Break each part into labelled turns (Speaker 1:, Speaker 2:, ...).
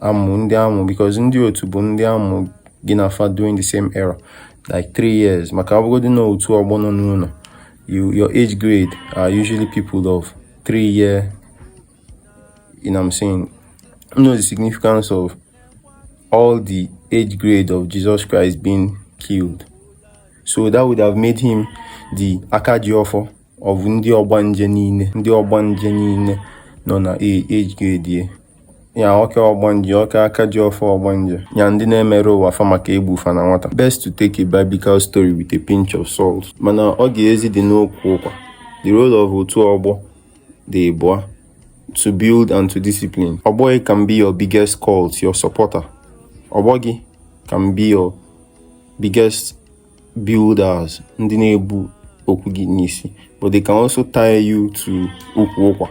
Speaker 1: amụ ndị amụ because ndị otu bụ ndị amụ gị na fa during the same era like three years maka ọbụgodị na otu ọgbọ nọ n'ụnọ your age grade are usually people of three year you know what I'm saying you know the significance of all the age grade of Jesus Christ being killed so that would have made him the aka ji ọfọ ọ bụ ndị ọgbanje niile ndị ọgbanje niile nọ na age grade ya ya ọka ọgbanje ọka aka ji ọfọ ọgbanje ya ndị na-emere ụwa fa maka egbu fa na nwata best to take a biblical story with a pinch of salt mana ọ ga-ezi dị n'okwu ụkwa the role of otu ọgbọ dị ịbụa to build and to discipline ọgbọ gị can be your biggest cult your supporter ọgbọ gị can be your biggest builders ndị na-ebu okwu gị n'isi but they can also tie you to ukwu ụkwa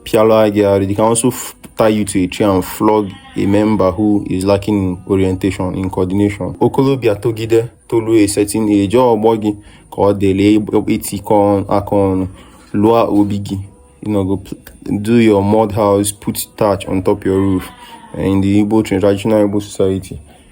Speaker 1: pịala gị arụ they can also tie you to a tree and flog a member who is lacking in orientation in coordination okolobịa togide tolu a certain age ọgbọ gị ka ọ dịrị etikọ aka ọnụ lụọ obi gị you know go do your mud house put thatch on top your roof in the Igbo traditional Igbo society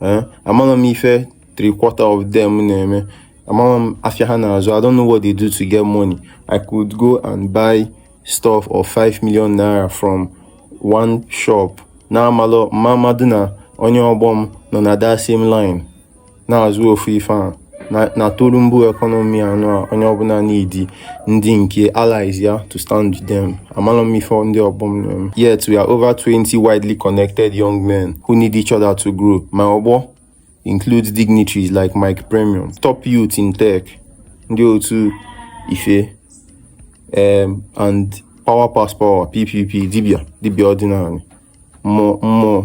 Speaker 1: eh, amarọ m ife three quarter of them na-eme amarọ m afịa ha na-azụ I don't know what they do to get money I could go and buy stuff of 5 million naira from one shop na-amarọ mmadụ na onye ọgbọ m nọ na that same line na-azụ ofu ife ahụ na Tulumbu economy anụ a onye ọbụla needi ndị nke allies ya to stand with them amarọ m ife ndị ọgbọ m na-eme yet we are over 20 widely connected young men who need each other to grow ma ọgbọ includes dignitaries like Mike Premium top youth in tech ndị otu ife um, and power pass power ppp dibia dibia ọdịnaanị mmụọ mmụọ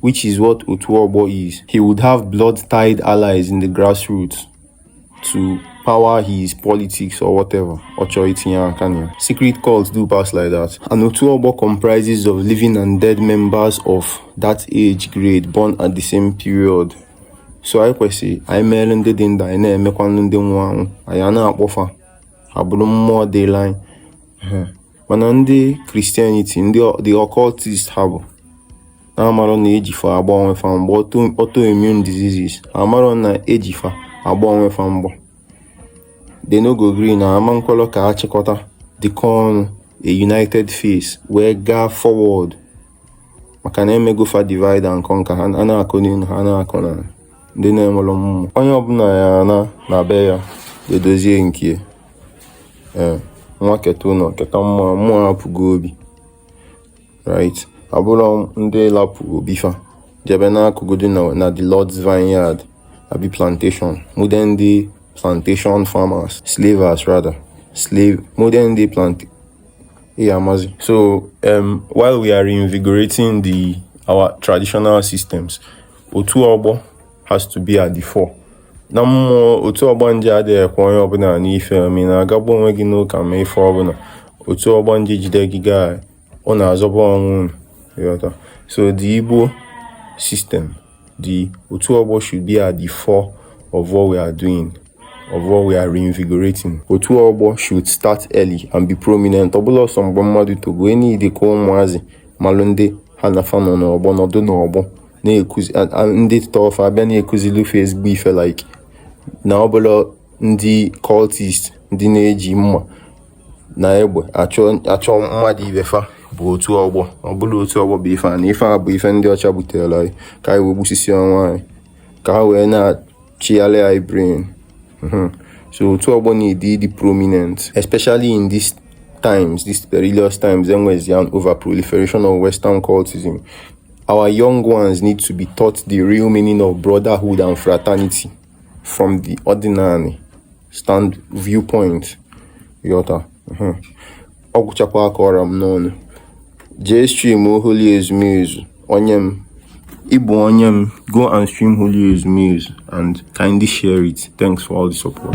Speaker 1: which is what otu ọgbọ is. He would have blood-tied allies in the grassroots to power his politics or whatever. Ọ chọ itinye aka Secret cults do pass like that. And otu ọgbọ comprises of living and dead members of that age grade born at the same period. So anyị kwesị anyị mere ndị dị ndụ anyị na-emekwanụ ndị nwụ anwụ anyị a na-akpọ fa ha bụrụ mmụọ dịlị anyị mana ndị Christianity ndị the occultist ha bụ na-amarọ na eji fa agba onwe fa mgba autoimmune diseases amarọ na eji fa agba onwe fa mgba they no go gree na ama nkwelọ ka achịkọta dịkọ ọnụ a united face wee gaa forward maka na emego fa divide and conquer ha na-akụ n'elu ha na-akụ na ndị na-enwere mmụọ onye ọbụla ya na na be ya edozie nke ee nwa keta ụnọ keta mmụọ mmụọ apụgo obi right ọ bụla ndị lapụ obi fa jebe n'akụkụ dị na the Lord's Vineyard abi plantation modern day plantation farmers slavers rather slave modern day plant yeah, amazi so um, while we are reinvigorating the our traditional systems otu ọgbọ has to be at the fore na mmụọ otu ọgbanje ada ekwe onye ọbụna anụ ife ma ị na-agagbu onwe gị n'ụka ma ife ọbụna otu ọgbanje jide gị gaa ọ na-azọba ọnwụ ị ghọta so the Igbo system the otu ọgbọ should be at the fore of what we are doing of what we are reinvigorating otu ọgbọ should start early and be prominent ọ bụla ọsọ mgbe mmadụ togo enyi dị ka ụmụazị malụ ndị ha na fa nọ n'ọgbọ nọdụ n'ọgbọ na-ekuzi ndị tọ fa abịa na-ekuzilu fa ezigbo ife like na ọ bụla ndị cultist ndị na-eji mma na egbe achọ mmadụ ibe fa bụ otu ọgbọ ọ bụla otu ọgbọ bụ ife a na ife a bụ ife ndị ọcha butere anyị ka anyị wee gbusisie onwe anyị ka ha wee na-achịgharị anyị brain mhm. so otu ọgbọ need ịdị prominent especially in this times, these perilous times, there was an over proliferation of Western cultism. Our young ones need to be taught the real meaning of brotherhood and fraternity from the ordinary stand viewpoint. Yọta. Uh-huh. Ọ gwụchakwa aka ọra m n'ọnụ. Jee stream Holy Ezumezu, onye m. Ịbụ onye m, go and stream Holy Ezumezu and kindly share it. Thanks for all the support.